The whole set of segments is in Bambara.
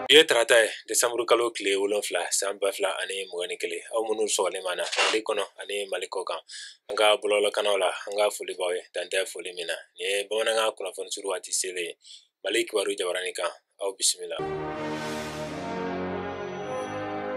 Bi ye tarata ye desanburu kalo tile wolonfila san ba fila ani mugan ni kelen aw minnu sɔgɔlen b'an na mali kɔnɔ ani mali kɔkan an ka bɔlɔlɔkanaw la an ka foli b'aw ye dan tɛ foli min na nin ye bamanankan kunnafoni suru waati selen ye mali kibaru jabaranin kan aw bisimila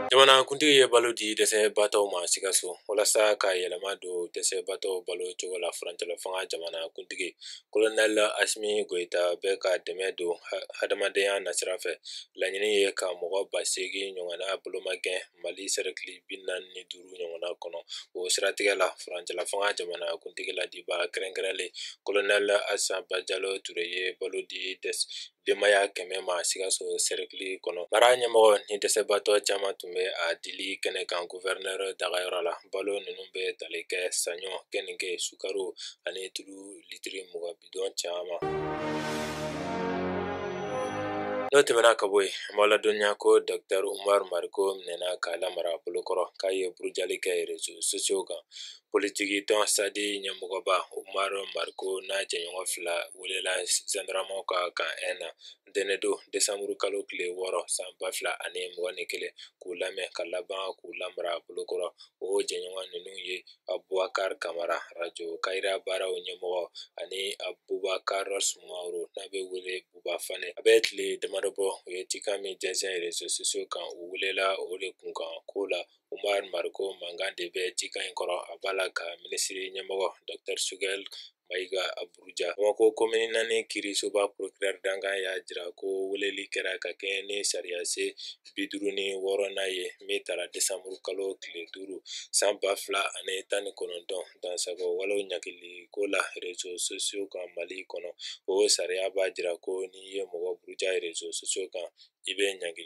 jamanakuntigi ye balo di dɛsɛbatɔw ma sikaso walasa ka yɛlɛma don dɛsɛbatɔw balo cogo la furancɛla fanga jamanakuntigi kolonɛli asimi goyita bɛ ka dɛmɛ don hadamadenya nasira fɛ laɲini ye ka mɔgɔ ba seegin ɲɔgɔnna bolomagɛn mali sɛrɛkili bi naani ni duuru ɲɔgɔnna kɔnɔ o siratigɛ la furancɛla fanga jamanakuntigi laadibaa kɛrɛnkɛrɛnlen kolonɛli asan bajalo ture ye balo di dɛsɛ denbaya kɛmɛ ma sikaso sɛrɛkili kɔnɔ mara ɲɛmɔgɔw ni dɛsɛbatɔ caman tun bɛ a dili kɛnɛ kan guvɛrinɛr dagayɔrɔ la balo ninnu bɛ tali kɛ saɲɔ keninge sukaro ani tulu litiri mugan bidɔn caman n'o tɛmɛna ka bɔ yen an b'aw ladɔnniya ko dɔktɛr umar mariko minɛna k'a lamara bolokɔrɔ k'a ye burujali kɛ rezo sosiyow kan politikitɔn sadi ɲɛmɔgɔba umar mariko n'a jɛɲɔgɔn fila welela zandaramaw ka kan ɛn na ntɛnɛndon desanburu kalo tile wɔɔrɔ san ba fila ani mugan ni kelen k'u lamɛn ka laban k'u lamara bolokɔrɔ o jɛɲɔgɔn ninnu ye abubakar kamara rajo kayira baaraw ɲɛmɔgɔ ani abubakar sumaworo n'a bɛ wele buba fane a bɛ tile damadɔ bɔ u ye cikan min jɛnsɛn rezo sosiyo kan u welela o de kunkanko la Umar Mariko mankan de bɛ cikan in kɔrɔ a b'a la ka minisiri ɲɛmɔgɔ Dr Sogɛli Mayiga buruja Bamakɔ komini naani kiirisoba procureur dankan y'a jira ko weleli kɛra ka kɛɲɛ ni sariya sen bi duuru ni wɔɔrɔnan ye min tara desanburu kalo tile duuru san ba fila ani tan ni kɔnɔntɔn dansagon walew ɲangili ko la rezo sosiyo kan Mali kɔnɔ o sariya b'a jira ko n'i ye mɔgɔ buruja rezo sosiyo kan i bɛ ɲangi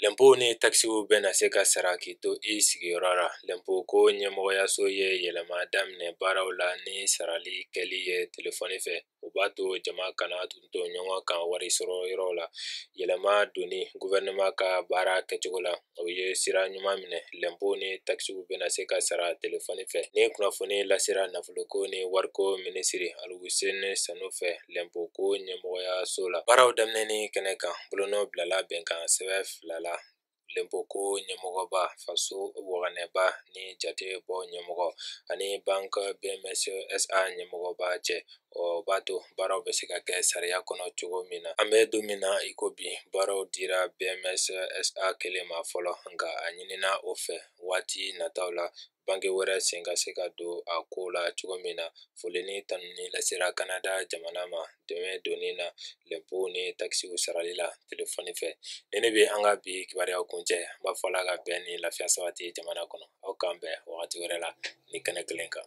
lɛnpo ni takisiw bɛna se ka sara k'i to i sigiyɔrɔ la lɛnpo ko ɲɛmɔgɔyaso ye yɛlɛma daminɛ baaraw la ni sarali kɛli ye telefɔni fɛ o b'a to jama kana tonton ɲɔgɔn kan wari sɔrɔ yɔrɔ la yɛlɛma donni guvɛrɛnɛma ka baara kɛcogo la o ye sira ɲuman minɛ lɛnpo ni takisiw bɛna se ka sara telefɔni fɛ nin kunnafoni lasera nafoloko ni wariko minisiri aluseni sanu fɛ lɛnpo ko ɲɛmɔgɔyaso la baaraw daminɛni kɛnɛ kan bolonɔ bilala bɛnkan sɛbɛn fila la lɛnpo ko ɲɛmɔgɔba faso waganɛba ni jate bɔ ɲɛmɔgɔ ani bank bms sa ɲɛmɔgɔba cɛ o b'a to baaraw bɛ se ka kɛ sariya kɔnɔ cogo min na an bɛ don min na iko bi baaraw dira bms sa kelen ma fɔlɔ nka a ɲinina o fɛ waati nataw la banki wɛrɛ sen ka se ka don a ko la cogo min na foli ni tanuni lasera kanada jamana ma dɛmɛ donni na lɛnpo ni takisiw sarali la telefɔni fɛ nin de bɛ an ka bi kibaruyaw kuncɛ an b'a fɔ ala ka bɛn ni lafiya sabati jamana kɔnɔ aw k'an bɛn wagati wɛrɛ la nin kɛnɛ kelen kan